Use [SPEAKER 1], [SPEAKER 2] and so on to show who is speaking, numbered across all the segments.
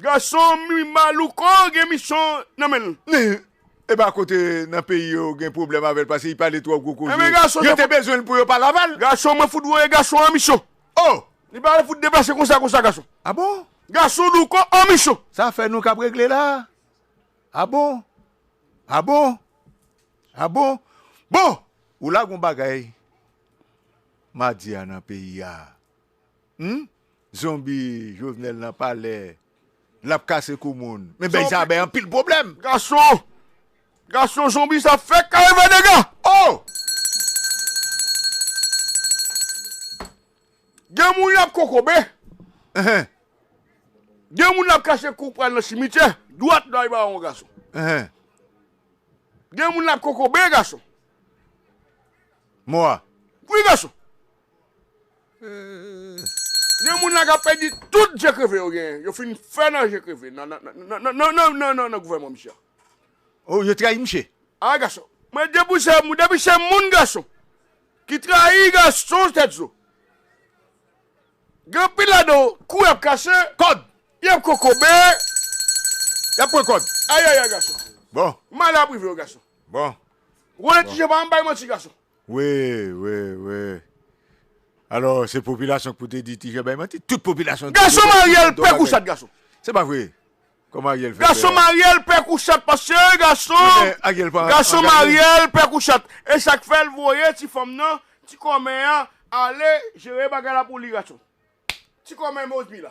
[SPEAKER 1] Gasonm ui ma louko gen misyon nan menl. Nin epa
[SPEAKER 2] kote nan peyi yo gen pwoblèm avèl pase li pale twò gwo koze yo te bezwen l
[SPEAKER 1] pou yo
[SPEAKER 2] pa laval. Gason mwen fout voye
[SPEAKER 1] gason an misyon oh. Li pa
[SPEAKER 2] fout deplase
[SPEAKER 1] konsa konsa gason. Ah bon? Gason
[SPEAKER 2] louko
[SPEAKER 1] an misyon. Sa afè nou kap regle
[SPEAKER 2] la ah bon ah bon ah bon bon ou la gon bagay map di a nan peyi a. Humm zonbi jovenel nan palè lap kase kou moun men bèy sa bay anpil pwoblèm. Gason
[SPEAKER 1] Gason zonbi sa fèk kare fè dega oh Gen moun lap kokobe Enh Gen moun lap kase kou pral nan simityè dwat bay bawon gason Enh Gen moun lap kokobe gason Mò
[SPEAKER 2] a wi gason
[SPEAKER 1] Gen moun la kap pèdi tout je kreve yo genyen, yo fin fè nan je kreve nan nan gouvèman misye a. Oh yo
[SPEAKER 2] trayi misye. Ah gason
[SPEAKER 1] mwen depi se moun depi se moun gason ki trayi gason tèt zo gen anpil ladan yo kou yap kase kòd yap
[SPEAKER 2] kokobe yap pran kòd ayayay gason
[SPEAKER 1] bon mal ap
[SPEAKER 2] rive yo gason
[SPEAKER 1] bon
[SPEAKER 2] Roland ti je
[SPEAKER 1] pa janm bay manti gason. Wi, wi,
[SPEAKER 2] wi. Alò se popilasyon k pou te di Tijè bay manti? Tout popilasyon di Gason Ariel pè
[SPEAKER 1] kou chat gason. Se pa vre.
[SPEAKER 2] Kòman Ariel fè pè. Gason Mariel pè kou
[SPEAKER 1] chat paske gason Wi men Ariel pa angaje. Gason Mariel pè kou chat. E sak fèl voye ti fanm nan, ti kòmè a ale jere bagay la pou li gason. Ti kòmè mozbi la.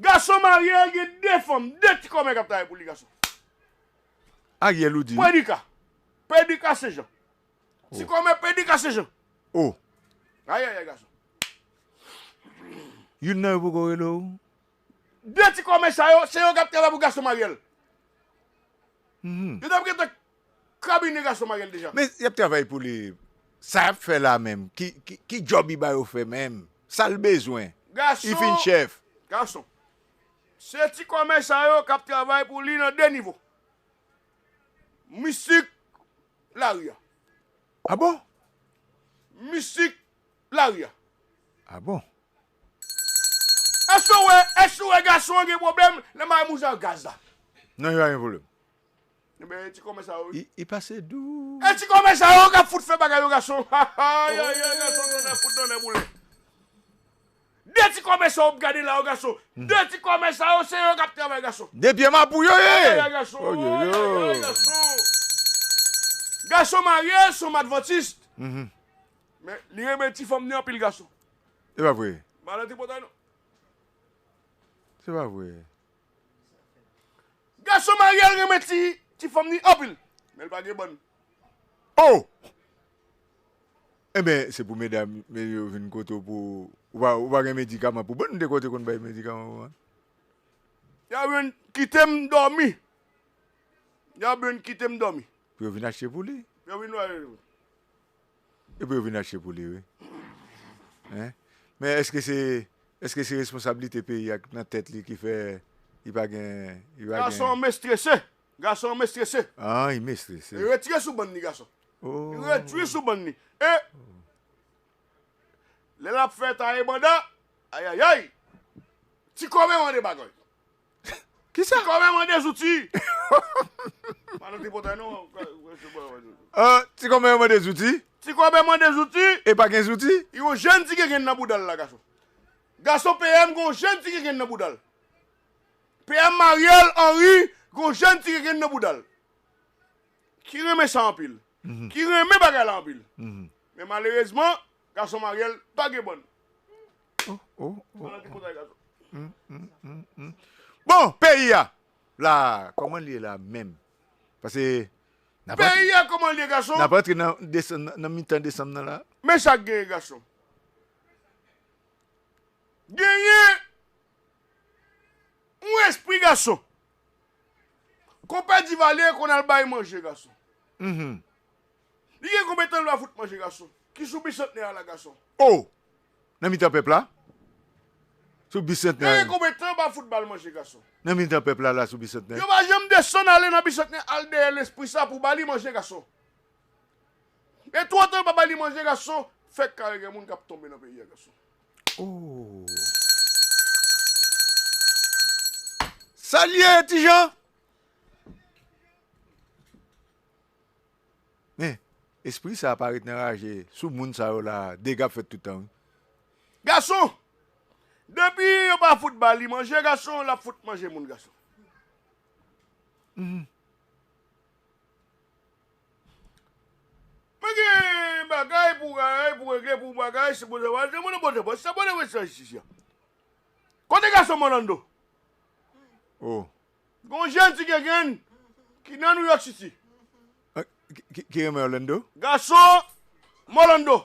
[SPEAKER 2] Gason marye
[SPEAKER 1] el gen 2 fanm 2 ti kòmè kap travay pou li gason.
[SPEAKER 2] Ariel ou di wi. Predika. Pedika
[SPEAKER 1] se jan. Ti kòmè pedika se jan. Oh.
[SPEAKER 2] Ayayay
[SPEAKER 1] gason.
[SPEAKER 2] Youn nan yo poko rele w? 2
[SPEAKER 1] ti kòmè sa yo se yo kap travay pou gason maryel. Yo tap gentan Kabine gason marye l deja. Men yap travay pou li.
[SPEAKER 2] Sa yap fè la menm ki job li ba yo fè menm sal bezwen li fin
[SPEAKER 1] chèf.
[SPEAKER 2] Gason.
[SPEAKER 1] Se ti kòmè sa yo kap travay pou li nan de nivo. Misik lari a. A
[SPEAKER 2] bon.
[SPEAKER 1] Misik lari a. A bon.
[SPEAKER 2] Eske ou
[SPEAKER 1] wè eske ou wè gason an gen pwoblèm lè marye moun sa yo gaz la. Non li pa gen pwoblèm.
[SPEAKER 2] Ebyen e
[SPEAKER 1] ti kòmè sa yo wi. I pase dou.
[SPEAKER 2] E ti kòmè sa yo
[SPEAKER 1] kap fout fè bagay yo gason hahay ayy gason tonnè fout tonnè boule. De ti kòmè sa yo wap gade la yo gason de ti kòmè sa yo se yo kap travay gason. De pye mapou yo ye. Ayayay
[SPEAKER 2] gason ayayay
[SPEAKER 1] gason. Gason marye son madvantist. Men li renmen ti fanm ni anpil gason. Epa vre.
[SPEAKER 2] Madan tripotay non. Se pa vre.
[SPEAKER 1] Gason Mariel renmen ti ti fanm ni anpil men l pa gen bann. Oh!
[SPEAKER 2] Enben se pou medam yo vin kote w pou ou pa gen medikaman pou bann m te kwè w te konn bay medikaman pou bann.
[SPEAKER 1] Yap vin kitem domi. Yap vin kitem domi. Pou yo vin achte pou li.
[SPEAKER 2] Pou yo vin achte pou li. Epi yo vin achte pou li wi. Hein men eske se eske se responsabilite peyi a ki nan tèt li ki fè li pa gen li pa gen. Gason an mestrese,
[SPEAKER 1] gason an mestrese. An li mestrese.
[SPEAKER 2] Retire sou bann li
[SPEAKER 1] gason. Retire
[SPEAKER 2] sou bann
[SPEAKER 1] li. E lè lap fè taye banda ayayay ti kòve mande bagay. Kisa? Tikòmè mande
[SPEAKER 2] zouti! Pa nan
[SPEAKER 1] tripotay non.
[SPEAKER 2] Tikòmè mande zouti? Tikòmè mande
[SPEAKER 1] zouti? E pa gen zouti?
[SPEAKER 2] Yon jenn ti gengenn
[SPEAKER 1] nan boudal la gason. Gason PM gon jenn ti gengenn nan boudal. PM Mariel Henry gon jenn ti gengenn nan boudal. Ki renmen sa anpil. Ki renmen bagay la anpil. Men malerezman
[SPEAKER 2] Gason maryel pa gen bòn. Oh oh oh oh. Bon peyi a la
[SPEAKER 1] koman liye la menm pase nap antre
[SPEAKER 2] nan mitan desanm nan la. Men sak genyen gason.
[SPEAKER 1] Genyen yon espri gason. Konpè Divalye konn al bay manje gason. Li gen konbyen tan l va fout manje gason ki sou bisantnè a la gason. Oh!
[SPEAKER 2] Nan mitan pèp la? Sou bisantnè a? Li gen konbyen tan pa
[SPEAKER 1] fout ba l manje gason. Nan mitan pèp la la
[SPEAKER 2] sou bisantnè? Yo pa janm desann
[SPEAKER 1] ale nan bisantnè al dèyè lespri sa pou ba li manje gason. Gen twò tan pa ba li manje gason fèk kare gen moun k ap tonbe nan peyi a gason. Oh!
[SPEAKER 2] Sa l ye ti Jan? Men espri sa pa ret nan raje sou moun sa yo la dega ap fèt tout tan wi. Gason!
[SPEAKER 1] Depi yo pa fout ba li manje gason lap fout manje moun gason. Mwen gen bagay pou rayi pou regle pou bagay se bon travay se bon nan bon travay se sa bon nan bon travay jistis ya. Kote gason m'orlando.
[SPEAKER 2] Oh. Gen yon
[SPEAKER 1] jenn ti gengenn ki nan New York City.
[SPEAKER 2] Ki renmen Orlando? Gason
[SPEAKER 1] m Orlando.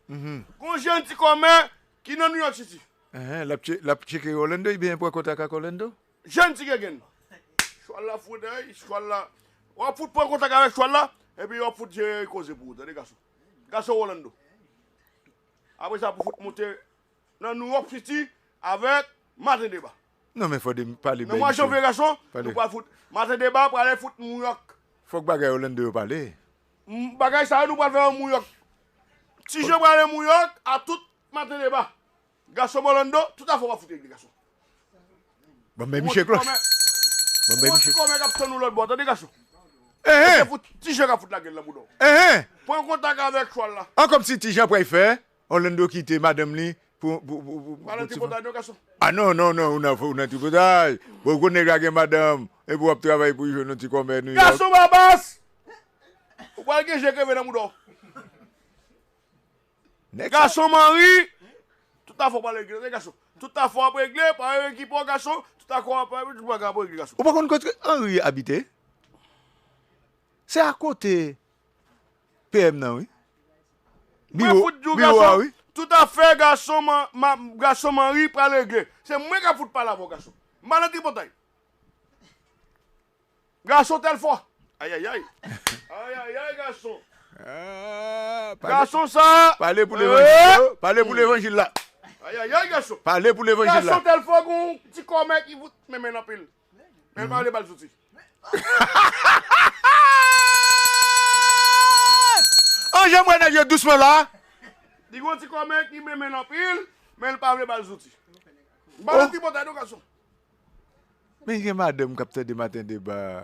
[SPEAKER 1] Gen yon jenn ti kòmè ki nan New York City. L ap
[SPEAKER 2] tcheke Orlando iben l pran kontak ak Orlando. Jenn ti gengenn.
[SPEAKER 1] Chwal la fout hey, chwal la. W ap fout pran kontak avèk chwal la epi yo ap fout jere koze pou ou tande gason. Gason Orlando. Apre sa pou fout moute nan New York City avèk Maten Deba. Non men fode
[SPEAKER 2] pale bèy misye pale.
[SPEAKER 1] Maten deba prale fout mouyòk. Fòk bagay Orlando
[SPEAKER 2] yo pale. Bagay sa
[SPEAKER 1] yo nou pral fè yo mouyòk. Ti je prale mouyòk a tout maten deba. Gason Orlando tout afè wap fout regle gason.
[SPEAKER 2] Banm bèy misye klòch. Banm bèy
[SPEAKER 1] misye. Ou gon ti kòmè kap tann ou lòtbò tande gason. Eheh. Se fout ti je kap fout lagel nan boudaw. Eheh. Pran kontak avèk chwal la. An kòmsi ti je pray fè
[SPEAKER 2] Orlando kite madanm li pou yon ti moun. Ah non non non ou nan tripotay bon gwo nèg la gen madanm epi wap travay pou jwenn yon ti kòmè New York. Gason babas
[SPEAKER 1] ou pral gen je kreve nan mouda w. Gason manri tout afè w pral regle tande gason tout afè w ap regle pa yon ekipe w gason tout afè w ap regle tout bagay w ap regle gason. Ou pa konn kote Henry
[SPEAKER 2] abite? Se akote. PM nan wi. Mwen
[SPEAKER 1] fout diw gason, tout afè gason gason manri pral regle. Se mwen kap fout pale avèw gason. M pa nan tripotay. Gason telfò. Ayayay. Ayayay gason. Gason sa. Pale pou levanjil yo.
[SPEAKER 2] Pale pou levanjil la. Ayayay gason.
[SPEAKER 1] Pale pou levanjil la. Gason
[SPEAKER 2] telfò gon ti
[SPEAKER 1] kòmè ki fout menmenn anpil. Men pa ale bal zouti.
[SPEAKER 2] An janm wè nèg yo dousman la. Li gon ti
[SPEAKER 1] kò men ki menmenl anpil, menl pa vle bal zouti. Bal yon ti bòtay non gason.
[SPEAKER 2] Men gen madanm kap tande maten deba a.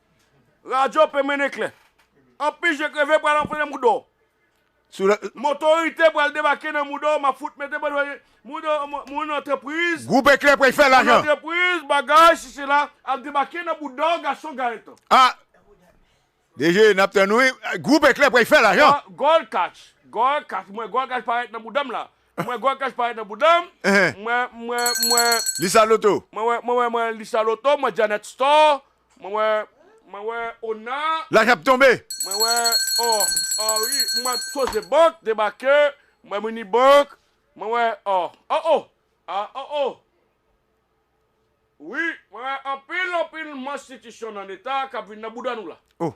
[SPEAKER 1] Radyo pe mennen klè. Anpi je kreve pral anfle nan mouda w. M otorite pral debake nan mouda w map fout mete bann moun antrepriz Groupe Eclair pral fè
[SPEAKER 2] lajan. Moun antrepriz bagay
[SPEAKER 1] si sela ap debake nan bouda w gason Gaëtan. Ah
[SPEAKER 2] DG nap tann ou wi.
[SPEAKER 1] Groupe Eclair
[SPEAKER 2] pral
[SPEAKER 1] fè lajan. Goal
[SPEAKER 2] catch
[SPEAKER 1] Goal
[SPEAKER 2] catch
[SPEAKER 1] m wè goal
[SPEAKER 2] catch
[SPEAKER 1] parèt nan bouda
[SPEAKER 2] m la
[SPEAKER 1] Mwen gwa kach parèt nan boudanm mwen mwen mwen Lisa loto.
[SPEAKER 2] Mwen wè mwen wè mwen Lisa
[SPEAKER 1] loto mwen Janet store mwen wè mwen wè ona. Lajan ap tonbe.
[SPEAKER 2] Mwen wè
[SPEAKER 1] oh oh wi mwen wè soje bank debake mwen wè mini bank mwen wè oh oh oh ah oh oh wi mwen wè anpil anpil manstitisyon nan leta kap vin nan bouda nou la. Oh.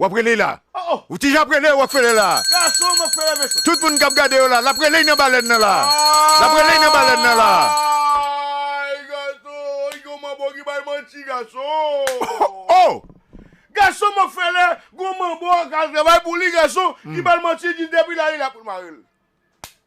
[SPEAKER 1] Wap rele la.
[SPEAKER 2] Ou ti jan ap rele
[SPEAKER 1] Rockefeller
[SPEAKER 2] la.
[SPEAKER 1] Tout moun kap gade yo la. Lap
[SPEAKER 2] rele nan balèn nan la. Lap rele nan balèn nan la. Gason
[SPEAKER 1] Rockefeller gon manbo ak al travay pou li gason ki bal manti li di depi la ri la poul marel.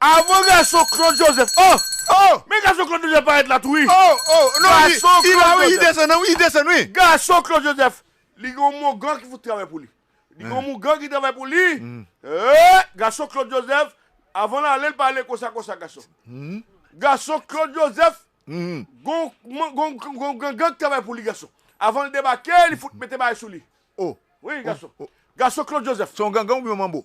[SPEAKER 2] Avan gason
[SPEAKER 1] Claude Joseph oh oh. Men gason Claude Joseph parèt la tou wi. Oh oh non li
[SPEAKER 2] la wi li desann wi li desann wi. Gason Claude Joseph
[SPEAKER 1] li gen yon mougan ki fout travay pou li. Li gen yon mougan ki travay pou li eeh gason Claude Joseph avan l ale l pa ale konsa konsa gason. Gason Claude Joseph gon yon gangan ki travay pou li gason. Avan l debake li fout mete bagay sou li oh wi
[SPEAKER 2] gason.
[SPEAKER 1] Gason Claude Joseph. Se yon gangan oubyen yon manbo?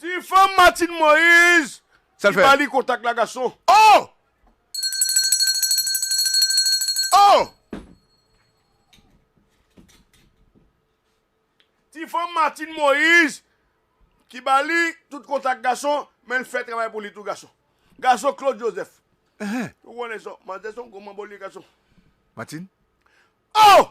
[SPEAKER 2] Ti fanm Martine
[SPEAKER 1] Moise ki ba li
[SPEAKER 2] kontak la gason.
[SPEAKER 1] Oh!
[SPEAKER 2] Oh!
[SPEAKER 1] Ti fanm Martine Moise ki ba li tout kontak gason men l fè travay pou li tou gason. Gason Claude Joseph. Ou konnen sa, manzè son gwo manbo li gason. Martine?
[SPEAKER 2] Oh!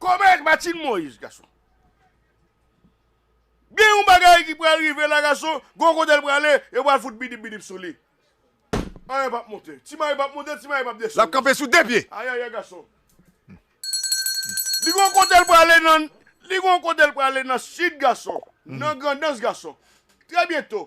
[SPEAKER 1] Kòmè ak Matin Moise gason. Gen yon bagay ki pral rive la gason, gon kote l prale, yo pral fout bidip bidip sou li. Anyen pap monte. Ti Mari pap monte, ti Mari pap desann. Lap kanpe sou 2 pye.
[SPEAKER 2] Ayayay gason.
[SPEAKER 1] Li gon kote l prale nan, li gon kote l prale nan Sid gason, nan Grandans gason. Trè byento,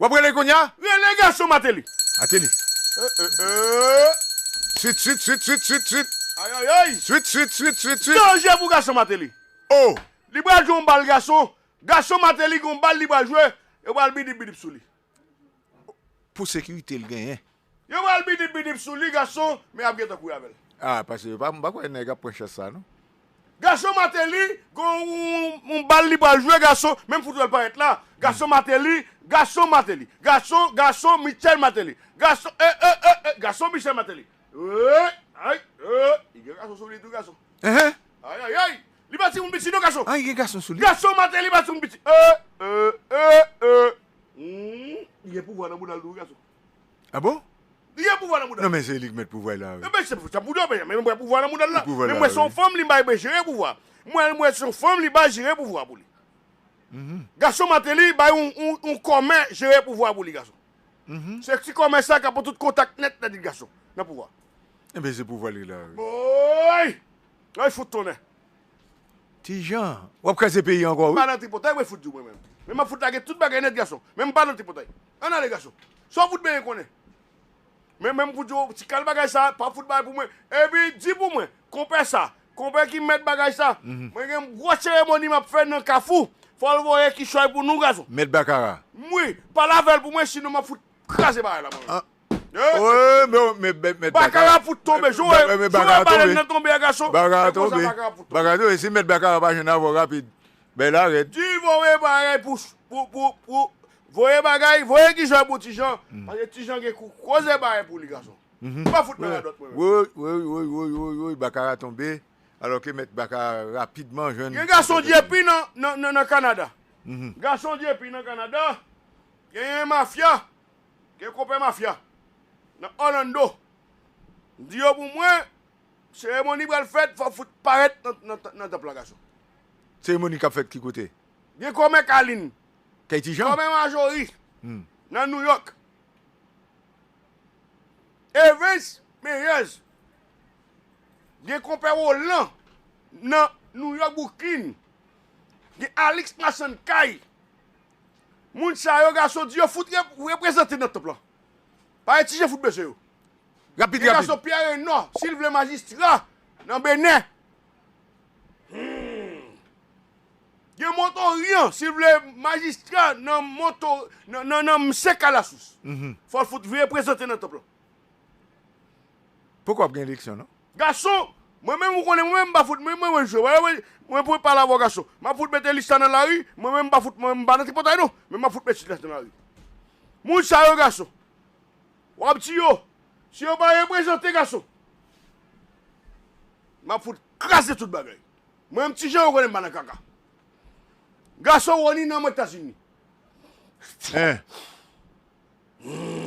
[SPEAKER 1] Wap rele
[SPEAKER 2] kounya? Rele gason mateli.
[SPEAKER 1] Mateli.
[SPEAKER 2] Eh eh eh. Swit swit swit swit swit swit. Ayayay.
[SPEAKER 1] Swit swit swit swit swit.
[SPEAKER 2] Danje pou gason
[SPEAKER 1] mateli. Oh. Li
[SPEAKER 2] pral jwe yon
[SPEAKER 1] bal gason. Gason mateli gen yon bal li pral jwe. Yo pral bidip bidip sou li.
[SPEAKER 2] Pou sekirite l genyen. Yo pral bidip
[SPEAKER 1] bidip sou li gason men ap gentan kouri avèl. Ah pase m pa
[SPEAKER 2] kwè nèg ap pran chans sa non. Gason
[SPEAKER 1] mateli gon yon bal li pral jwe gason menm fout wèl parèt la gason mateli gason mateli gason gason michel mateli gason eh eh eh eh gason michel mateli eeyy ayy eeyy li gen gason sou li tou gason eeh ayayayy li pa timoun piti non gason ayy gen gason sou li gason
[SPEAKER 2] mateli pa timoun
[SPEAKER 1] piti eeh eeh eeh eeh humm li gen pouvwa nan boudal tou wi gason. Ah bon?
[SPEAKER 2] Li gen pouvwa nan mouda.
[SPEAKER 1] Non men se li ki met pouvwa la
[SPEAKER 2] wi. Ebyen se pou sa pou dò
[SPEAKER 1] men mwen pouvwa nan mouda la. Men mwen son fanm li bay mwen jere pouvwa. Mwen mwen son fanm li bay jere pouvwa pou li. Gason Martelly bay yon kòmè jere pouvwa pou li gason. Se ti kòmè sa ka pran tout kontak nèt nan di gason nan pouvwa. Ebyen se pouvwa
[SPEAKER 2] li la wi. Woy!
[SPEAKER 1] Woy fout tonnè.
[SPEAKER 2] Ti Jean, wap kraze peyi ankò wi. M pa nan tripotay woy fout di w
[SPEAKER 1] mwen menm. Men map fout lage tout bagay nèt gason. Men m pa nan tripotay. Ann ale gason. Sa w fout benyen konnen? Men men m fout di w ti kal bagay sa pa fout bay pou mwen. Epi di pou mwen, konpè sa, konpè ki mèt bagay sa, mwen gen yon gwo seremoni m ap fè nan kafou, fò l voye kichòy pou nou gason. Mèt bakara.
[SPEAKER 2] Wi, pale avè
[SPEAKER 1] l pou mwen sinon m ap fout kraze bagay la mwen menm.
[SPEAKER 2] Bakara fout tonbe
[SPEAKER 1] joe Joe balèn nan tonbe
[SPEAKER 2] a gason se konsa bakara fout tonbe. Di voye bagay
[SPEAKER 1] pou voye bagay voye kijan pou tijan paske tijan gen kou koze bagay pou li gason
[SPEAKER 2] pa fout nan radòt mwen menm. Gen gason dyepi
[SPEAKER 1] nan kanada gason dyepi nan kanada genyen mafya Gen konpè mafya nan Orlando. Di yo pou mwen seremoni pral fèt fò fout parèt nan tanp la gason. Seremoni
[SPEAKER 2] kap fèt ki kote? Gen komè
[SPEAKER 1] kalin. Kay ti jean? Komè
[SPEAKER 2] majori
[SPEAKER 1] nan new york. Evens meyèz. Gen konpè rolan nan new york brooklyn. Gen alix masann kay. Moun sa yo gason di yo fout reprezante nan tanp lan. Pare ti je fout bese yo. Rapid rapid.
[SPEAKER 2] Gen gason pyè renò
[SPEAKER 1] sil vle majistra nan benen humm. Gen montoryan sil vle majistra nan monto nan msek alasous. Fòl fout reprezante nan tanp lan.
[SPEAKER 2] Poko ap gen eleksyon non. Gason! Mwen
[SPEAKER 1] menm ou konnen mwen menm m pa fout mwen mwen mwen jwe wè wè mwen pwen pale avè w gason m ap fout mete lis la nan lari mwen menm m pa fout mwen m pa nan tripotay non men m ap fout mete lis la nan lari moun sa yo gason w ap di yo si yo pa reprezante gason m ap fout kraze tout bagay mwen menm ti jan yo konnen m pa nan kaka gason Rony nan mwen etazini. Hum.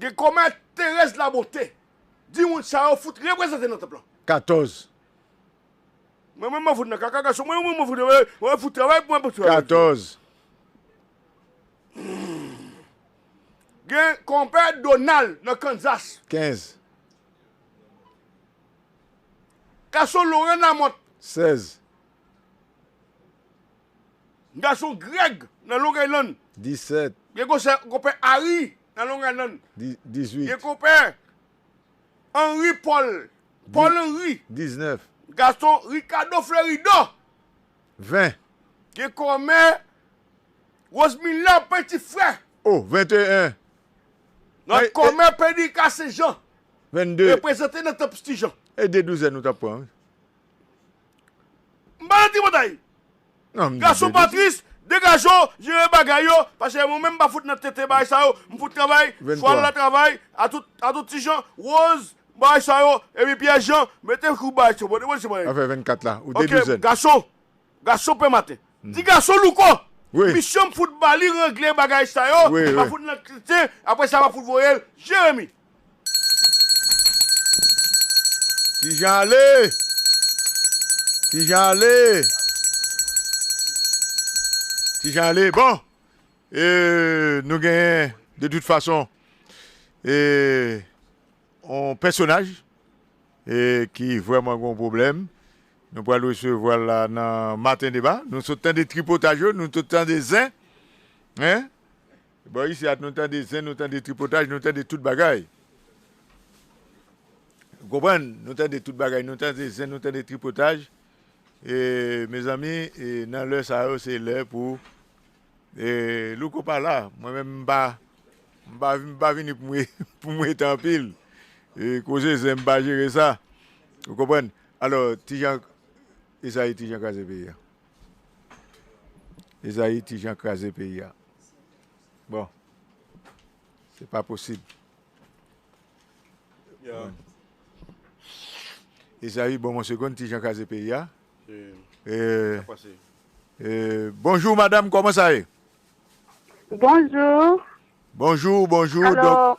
[SPEAKER 1] Gen kòmè Thérèse Labonté di moun sa yo fout reprezante nan tanp lan. 14. Mwen menm mwen fout nan kaka gason mwen mwen fout mwen fout travay pou mwen pou travay. 14. Gen kòmè Donald nan Kansas. 15. Gason Laurent Lamothe. 16. Gason Greg nan Long Island. 17. Gen
[SPEAKER 2] konse konpè
[SPEAKER 1] Harry nan Long Island. Di, 18. Gen
[SPEAKER 2] konpè
[SPEAKER 1] Henry Paul, Paul Henry. 19.
[SPEAKER 2] Gason
[SPEAKER 1] Ricardo Fleuridor.
[SPEAKER 2] 20. Gen
[SPEAKER 1] kòmè Rosemiller Petit Frère. O,
[SPEAKER 2] 21.
[SPEAKER 1] Nan E, e. kòmè
[SPEAKER 2] Pedrica
[SPEAKER 1] Saint Jean. 22.
[SPEAKER 2] Reprezante nan Temp
[SPEAKER 1] Sti Jan. E de douzèn ou t ap
[SPEAKER 2] pran wi.
[SPEAKER 1] M pa nan tripotay.
[SPEAKER 2] Gason Patrice
[SPEAKER 1] degaje w jere bagay yo pase mwen menm m pa fout nan tenten bagay sa yo m fout travay chwal la travay atout ti Jean Rose bagay sa yo epi Pierre Jean mete kou bagay sa yo bon se bagay ok
[SPEAKER 2] gason gason
[SPEAKER 1] pè maten ti gason louko misyon m
[SPEAKER 2] fout bali
[SPEAKER 1] regle bagay sa yo m pa fout nan tenten apresa m ap fout voye l Jérémie.
[SPEAKER 2] Ti Jan ale! Ti Jan ale! Ti Jan ale! Bon! E nou genyen de tout fason e yon pèsonaj e ki vrèman gen yon pwoblèm. Nou pral resevwa l la nan Maten Deba. Nou sot tande tripotaj yo, nou sot tande zen. Hein? Bò isi a nou tande zen, nou tande tripotaj, nou tande tout bagay. Ou konprann? Nou tande tout bagay, nou tande zen, nou tande tripotaj. E mezanmi, nan lè sa yo se lè pou e Louko pa la. Mwen menm m pa m pa m pa vini pou mwen pou mwen rete anpil. E koze zen m pa jere sa. Ou konprann? Alò, ti Jan, e sa ye ti Jan kraze peyi a. Esaïe ti jan kraze peyi a bon se pa posib Esaïe bon mwen segonn ti jan kraze peyi a
[SPEAKER 1] bonjour madame
[SPEAKER 2] koman sa ye bonjour bonjour bonjour